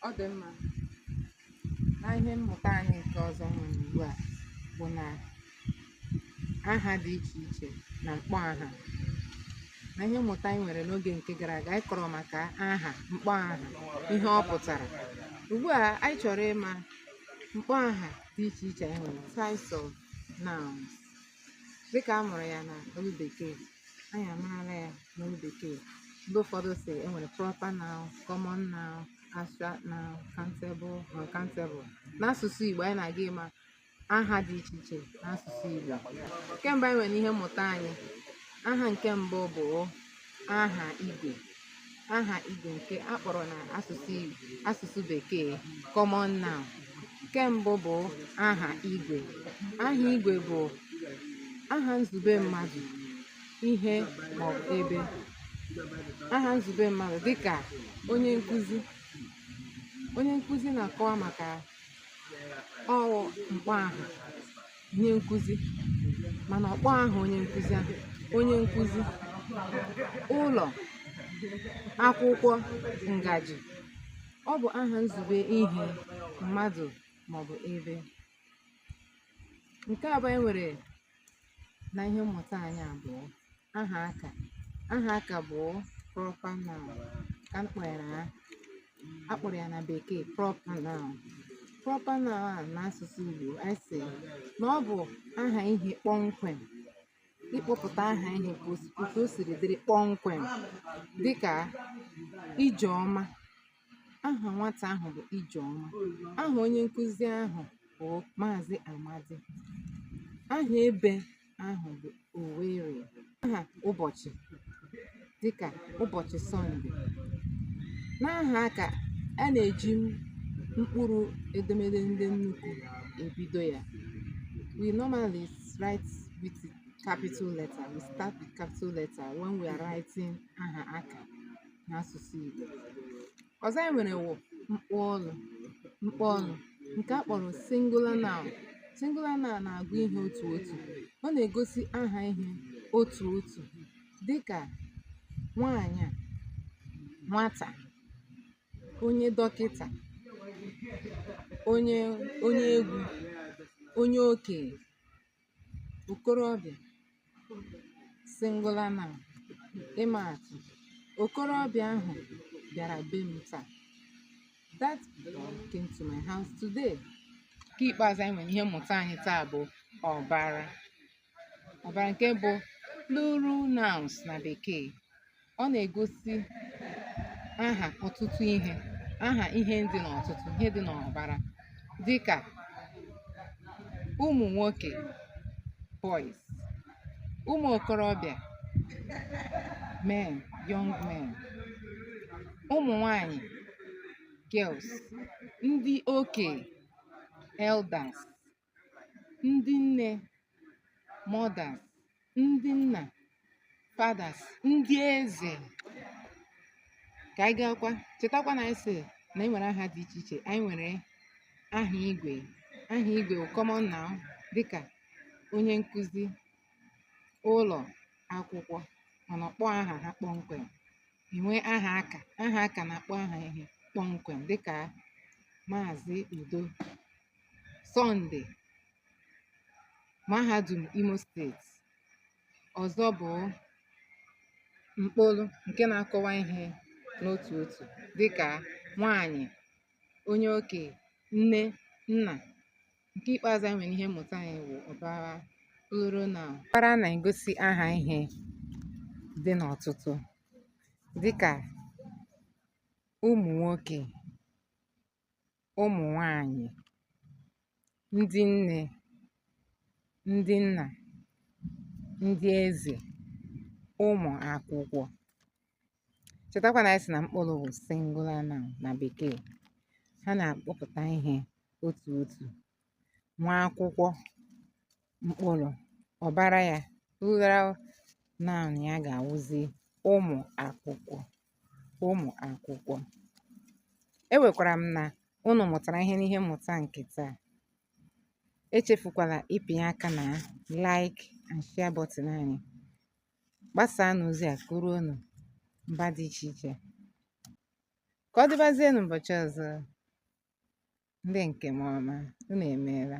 ọ dị mma na ihe mmụta anyị nke ọzọ nwere ugbu a bụ na aha dị iche iche na mkpọ aha na ihe mmụta anyị nwere n'oge nke gara aga anyị kọrọ maka aha mkpọ aha ihe ọ pụtara ugbu a anyị chọrọ ịma mkpọ aha dị iche iche anyị nwere types of nouns dịka a mụrụ ya na olu bekee anyị amarala ya n'olu bekee ndị ụfọdụ si enwere proper noun common noun abstract noun countable uncountable n'asụsụ igbo anyị na-aga ịma aha dị iche iche n'asụsụ igbo nke mbụ anyị nwere ihe mmụta anyị aha nke mbụ bụ aha igwe aha igwe nke a kpọrọ na asụsụ Igbo asụsụ bekee common noun nke mbụ bụ aha igwe aha igwe bụ aha izugbe mmadụ ihe maọbụ ebe aha izugbe mmadụ dịka onye nkụzi onye nkụzi na-akọwa maka ọ wụ mkpọ aha onye nkụzi mana ọ kpọ aha onye nkụzi ahụ onye nkụzi ụlọ akwụkwọ ngaji ọ bụ aha izugbe ihe mmadụ maọbụ ebe nke abụọ e nwere na ihe mmụta anyị a bụ aha aka aha aka bụ proper noun ka a kpọrọ ya a kpọrọ ya na bekee proper noun proper noun a n'asụsụ Igbo anyị sị na ọ bụ aha ihe kpọmkwem ịkpọpụta aha ihe ka o si- otu o siri dịrị kpọmkwem dịka Ijeọma Aha nwata ahụ bụ Ijeọma. Aha onye nkụzi ahụ bụ Maazị Amadi. Aha ebe ahụ bụ Owerri. Aha ụbọchị dịka ụbọchị Sọnde. N'aha aka a na-eji mkpụrụ edemede ndị nnukwu ebido ya. We normally write with capital letter. We start with capital letter when we are writing aha aka. n'asụsụ Igbo ọzọ anyị nwere wụ mkpọolu mkpọolu nke a kpọrọ singular noun singular noun na-agụ ihe otu otu ọ na-egosi aha ihe otu otu dịka nwaanyị a nwata onye dọkịta onye onye egwu onye okenye okorobịa singular noun ịma atụ okorobịa ahụ bịara be m taa that boy came to my house today nke ikpeazụ anyị nwere ihe mmụta anyị taa bụ ụbara ụbara nke bụ plural nouns na bekee ọ na-egosi aha ọtụtụ ihe aha ihe dị n'ọtụtụ ihe dị n'ụbara dịka ụmụ nwoke boys ụmụ okorobịa men young men ụmụ nwanyị girls ndị okenye elders ndị nne mothers ndị nna fathers ndị eze ka anyị gaakwa chetakwa na anyị sị na anyị nwere aha dị iche iche anyị nwere aha igwe aha igwe bụ common noun dịka onye nkụzi ụlọ akwụkwọ mana ọ kpọ aha ha kpọmkwem e nwee aha aka aha aka na-akpọ aha ihe kpọmkwem dịka maazị udo Sọnde, Mahadum Imo Steeti, ọzọ bụ mkpọolu nke na-akọwa ihe n'otu otu dịka nwaanyị, onye okenye, nne, nna. Nke ikpeazụ anyị nwere ihe mmụta anyị bụ ụbara plural noun. Ụbara na-egosi aha ihe dị n'ọtụtụ dịka ụmụ nwoke, ụmụ nwanyị, ndị nne, ndị nna, ndị eze, ụmụ akwụkwọ. Chetakwa na anyị sị na mkpọolu bụ singular noun na bekee. Ha na-akpọpụta ihe otu otu nwa akwụkwọ mkpọolu ụbara ya plural noun ya ga-awụzi ụmụ akwụkwọ ụmụ akwụkwọ ekwekwara m na unu mụtara ihe n'ihe mmụta nke taa echefukwala ịpịnye aka na like and share button anyị gbasaanụ ozi a ka o ruonụ mba dị iche iche ka ọ dịbazie n'ụbọchị ọzọ ndị nke m ọma unu emeela